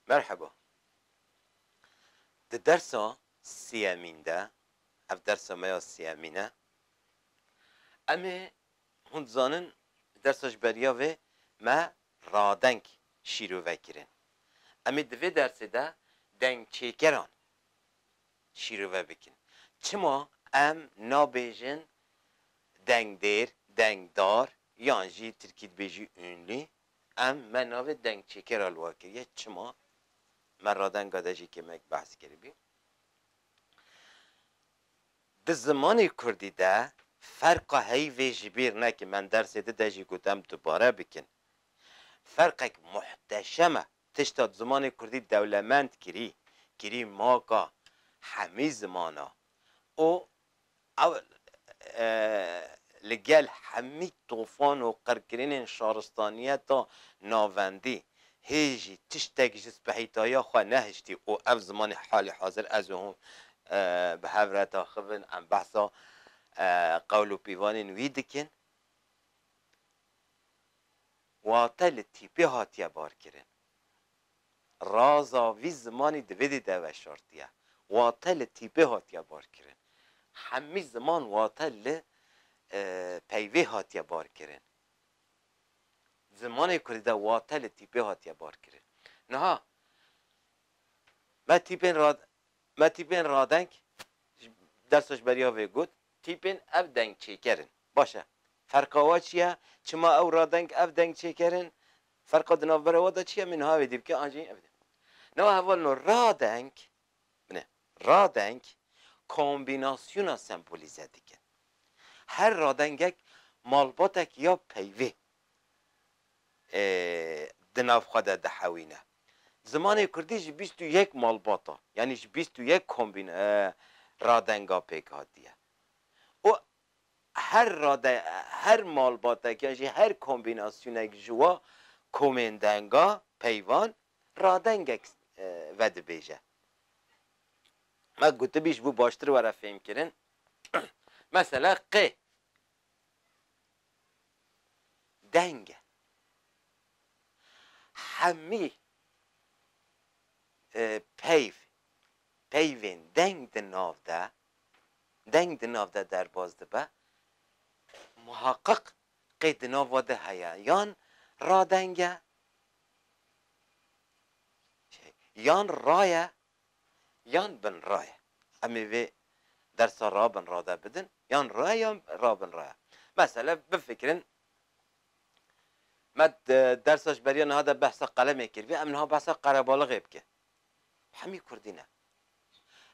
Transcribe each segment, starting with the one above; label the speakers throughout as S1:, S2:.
S1: Merheba. Di dersa sêyemîn de, ev dersa me ya sêyemîn e, em ê hûn dizanin di dersa ji beriya vê me radeng şîrove kirin. Em ê di vê dersê de dengçêkeran şîrove bikin. Çima em nabêjin dengdêr, dengdar yan jî tirkî dibêjî ûnlî? Em me navê dengçêker a li we kiriye. Çima? Me radenga de jî kêmek behs kiribî. Di zimanê kurdî de ferqa heyvê ji bîr neke. Me dersê di de jî got em dubare bikin. Ferqek muhteşem e. Tişta di zimanê kurdî dewlemend kirî, kirî maka hemî zimana û Ew li gel hemî tofan û qirkirinên şaristaniyeta navendî hê jî tiştek ji spehîtaya xwe nehiştî û ev zimanê halê hazir ez û hûn bi hev re daxivin em behsa qewl û pîvanên wî dikin wate li tîpê hatiye barkirin. Raza vî zimanî di vê dî de veşartiye. Wate li tîpê hatiye barkirin. Hemî ziman wate li peyvê hatiye barkirin. Zimanê kurdî de wate li tîpê hatiye barkirin. Niha me tîpên ra me tîpên radeng ji dersa ji beriya vê got, tîpên ev dengçêker in. Baş e. Ferqa we çi ye? Çima ew radeng ev dengçêker in? Ferqa di navbera we de çi ye? Min niha wê dî bike an jî ev dê. Newa heval no radeng, bine, radeng kombînasyona sembolîze dikin. Her radengek malbatek ya peyvê di nav xwe de dihewîne. Zimanê kurdî ji bîst û yek malbata, yanî ji bîst û yek kombîn radenga pêk hatiye û Her rade, her malbatek yan jî her kombînasyonek ji wa komên denga peyvan radengek vedibêje. Me gotibî ji bo baştir were fêmkirin, mesela qê deng e. Hemî peyv, peyvên deng di nav de deng di nav de derbas dibe, muhaqiq qey di nava de heye yan radeng e, yan ra ye, yan binra ye. Em ê vê dersa ra-binra de bidin, yan ra ye yan ra-binra ye. Mesele bifikirin, me di dersa ji beriya niha de behsa qelemê kiriye, em niha behsa qerebaliqê bikin. Hemî kurdî ne.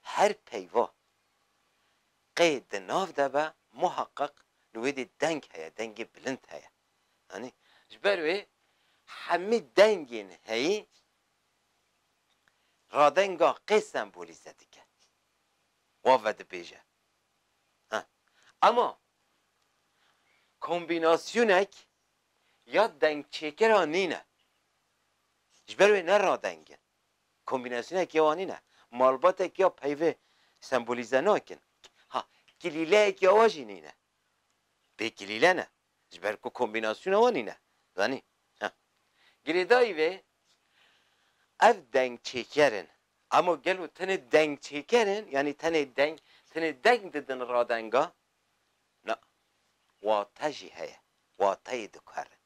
S1: Her peyva qê di nav de be muheqeq li wê dî deng heye, dengê bilind heye. Anî? Ji ber wê hemî dengên heyî radenga qê sembolîze dike wa vedibêje. Ha. Ema kombînasyonek ya dengçêkiran nîne. Ji ber wê ne radeng in. Kombînasyonekê wan nîne. Malbatek ya peyvê sembolîze nakin. Ha, kilîleyek ya we jî nîne. Pê kilîle ne. Ji ber ku kombînasyona wan nîne. Zanî? Ha. Girêdayî vê, ev dengçêker in. Ema gelo tenê dengçêker in, yanî tenê deng, tenê deng didin radenga? Na. Wate jî heye. Wateyê dikarin.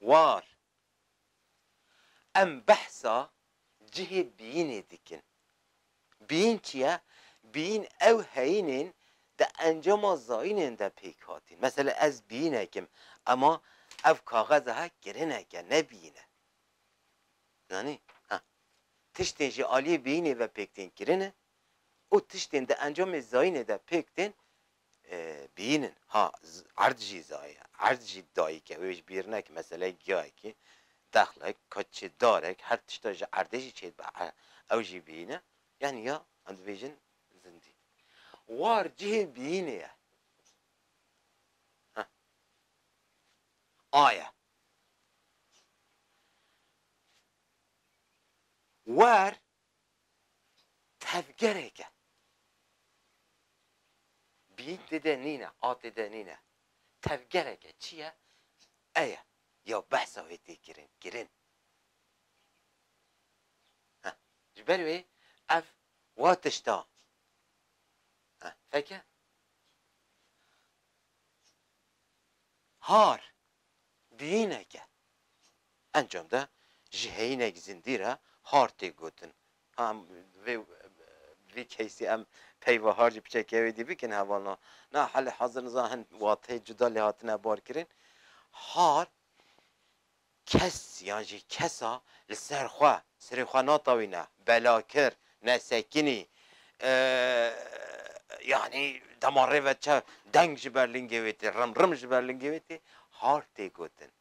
S1: war. Em behsa cihê biyînê dikin. Biyîn çi ye? Biyîn ew heyîn ên di encama zayînên de pêk hatîn. Mesela ez biyînek im ema ev kaxeza he kirinek e ne biyîn e. Zanî? Ha. Tiştên ji aliyê biyînê ve pêk tên kirine û tiştên di encamê zayînê de pêk tên bînin. Ha erd jî zaye. Erd jî dayîk e. Wê ji bîr neke. Meseleyê giyayekî, dexlek, keçê, darek, her tişta ji erdê jî çêdibe. Ew jî bîn e. Yanî ya em dibêjin zindî. War cihê bînê ye. Heh. A ye. War tevgerêke bîn tê de nîne, a tê de nîne. Tevgereke çi ye? E ye ya behsa wê tê kirin kirin. Heh, ji ber wê ev wa tişta. Heh, feke? Har, bihînek e. Encam de ji heyînek zindî re har tê gotin. Em vê vê keysê em peyva har ji piçeke wêdî bikin hevalna. Na halê hazir niza hin wateyê cuda lê hatine barkirin. Har Kes yan jî kesa li ser xwe serê xwe natawîne, belakir, nesekinî, yanî dema rê ve çav deng ji ber lingê wê tê, rim rim ji ber lingê wê tê, har tê gotin.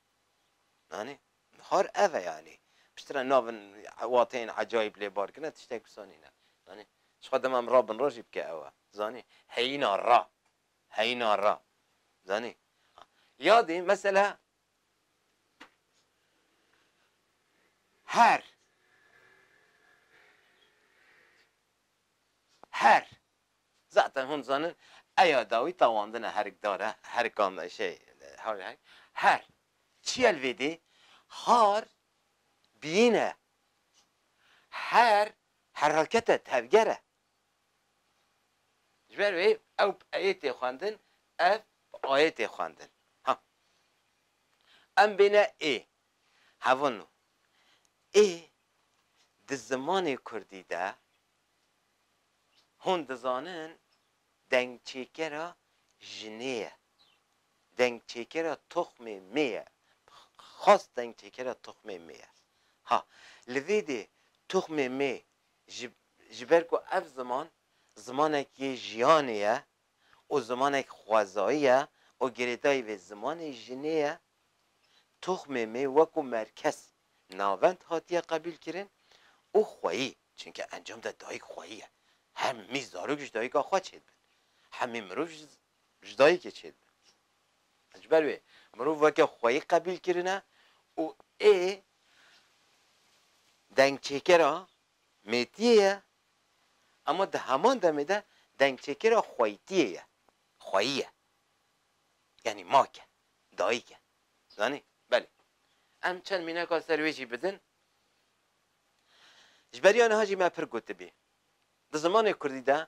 S1: Anî? Har ev e yanî. Piştre navin wateyên ecayîb lê bar kirine tiştek wisa nîne. Anî? Ji xwe dema em ra bin ra jî bike ew e. Zanî? Heyîna ra. Heyîna ra. Zanî? Yadî mesela. Her Her Zaten hûn dizanin eya dawî tawandina herik dar e, herika me şey hawlê herik Her Çiye li vê dê? Har biyîn e Her Herhalket e, tevger e Ji ber wê ew bi eyê tê xwendin, ev bi ayê tê xwendin. Ha. Em bêne ê. Hevon o. Ê di zimanê kurdî de hûn dizanin dengçêkera jinê ye. Dengçêkera toxmê mê ye. Xas dengçêkera toxmê mê ye. Ha. Li vê dê toxmê mê Ji ji ber ku ev ziman zimanekî jiyanê ye û zimanek xwezayî ye û girêdayî vê zimanê jinê ye, toxmê mê wekû merkez navend hatiye qebîl kirin û xweyî, çinke encam de dayîk xweyî ye, hemî zarok ji dayîka xwe çêdibin, hemî mirov ji ji dayikê çêdibe. Ji ber wê mirov weke xweyî qebîl kirine û ê dengçêkera mêtiyê ye ema di heman demê de dengçêkera xweyîtiyê ye, xweyî ye. Yanî mak e, dayik e. Zanî? Belê. Em çend mîneka ser wê jî bidin. Ji beriya niha jî me pir gotibî. Di zimanê kurdî de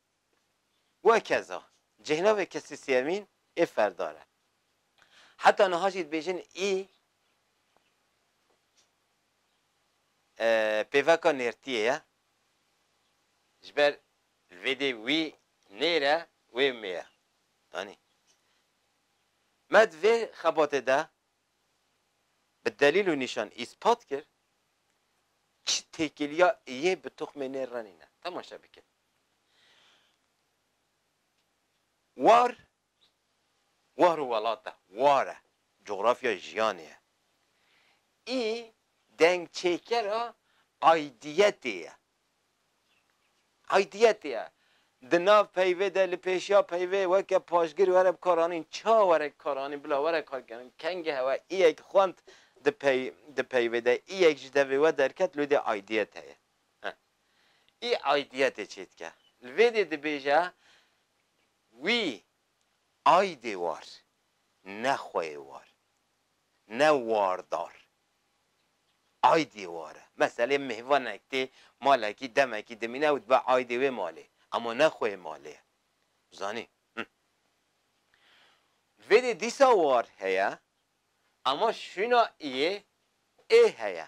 S1: Wekeza, cêhnavê kesî sêyemîn ê ferdar e. Heta niha jî dibêjin î pêveka nêrtiyê ye. Ji ber li vê dê wî nêr e, wê mê ye. Anî. Me di vê xebatê de bi delîl û nîşan îspat kir çi têkiliya yê bi toxmê nêr re nîne. Temaşe bikin. War, war û welat e, war e, cografyayê jiyanê ye. Î dengçêkera aydiyetê ye. Aydiyetê ye. Di nav peyvê de, li pêşiya peyvê weke paşgir were bi kar anîn, ça were bi kar anîn, bila were kar kirin. Kengê hewa î yek xwend di peyvê de, î yek ji devê we derket lûdê aydiyet heye. Î aidiyetê çêdike. Li vê dê dibêje wî aidê war, ne xweyê war, ne wardar. Aidiyê war e. Meselê mêvanek tê malekî demekî dimîne ew dibe aidê wê malê. Ema ne xweyê malê ye. Zanî? Him. Li vê dê dîsa war heye, ema şûna iyê ê heye.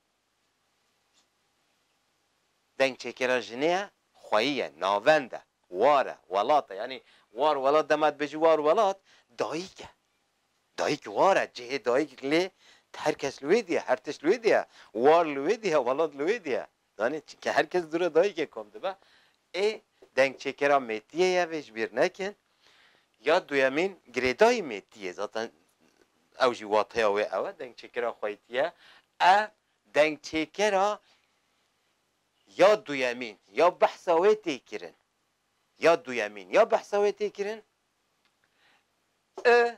S1: Dengçêkera jinê ye, xweyî ye, navend e, war e, welat e. Yanî war welat dema dibêjî war welat dayîk e. Dayîk war e, cihê dayîk lê her kes li wê dî ye, her tişt li wê dî ye, war li wê dî ye, welat li wê dî ye. Zanî çinke her kes dûre dayîkê kom dibe. Ê dengçêkera mêtiyê ye vê ji bîr nekin. Ya duyemîn girêdayî mêtî ye. Zaten ew jî wateya wê ew e, dengçêkera xweytî ye. E dengçêkera ya duyemîn ya behsa wê tê kirin, ya duyemîn ya behsa wê tê kirin, i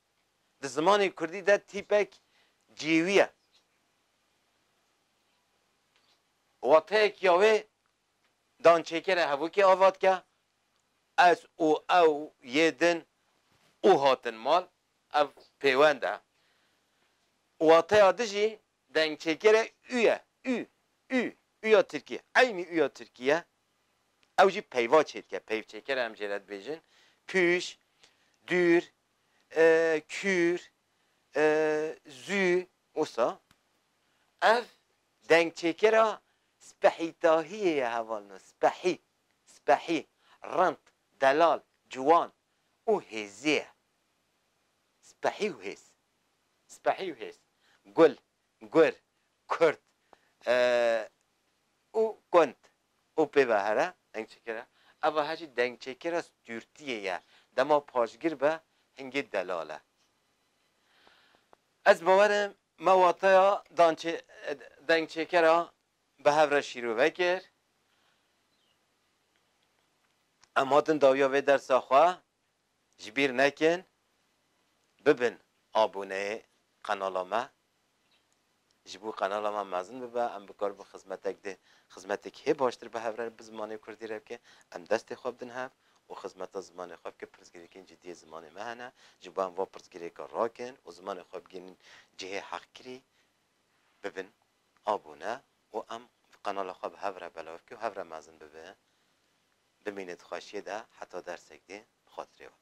S1: Di zimanê kurdî de tîpek cêwî ye. Wateyek ya wê dançêkerê hevokê ava dike, ez û ew yê din û hatin mal, ev pêwend e. Wateya di jî dengçêkerê û ye, û, û, û ya tirkî, eynî û ya tirkî ye. Ew jî peyva çêdike, peyvçêker em jê re dibêjin, pûş, dûr, kür, zû, wisa ev dengçêkera spehîtahiyê ye heval no, spehî, spehî, rind, delal, ciwan û hêzî ye. Spehî û hêz. Spehî û hêz. Gul, gur, kurt û kont û pê ve here dengçêkir e. Eva he jî dengçêkira stûrtiyê ye. Dema paşgir be hingê delal e. Ez bawer im me wateya dengçêkira bi hev re şîrove kir. Em hatin dawiya vê dersa xwe Ji bîr nekin bibin aboneyê qenala me. Ji bo qenala me mezin bibe, em bikaribin xizmetek dê xizmetek hê baştir bi hev re bi zimanê kurdî re bike. Em destê xwe bidin hev û xizmeta zimanê xwe bike. Pirsgirêkên cidî yê zimanê me hene. Ji bo em van pirsgirêkan rakin û zimanê xwe bigihînin cihê heqkirî, bibin abone û em qenala xwe bi hev re belav bike û hev re mezin bibin. Bimîne di xweşiyê de heta dersek dê bi xatirê wan.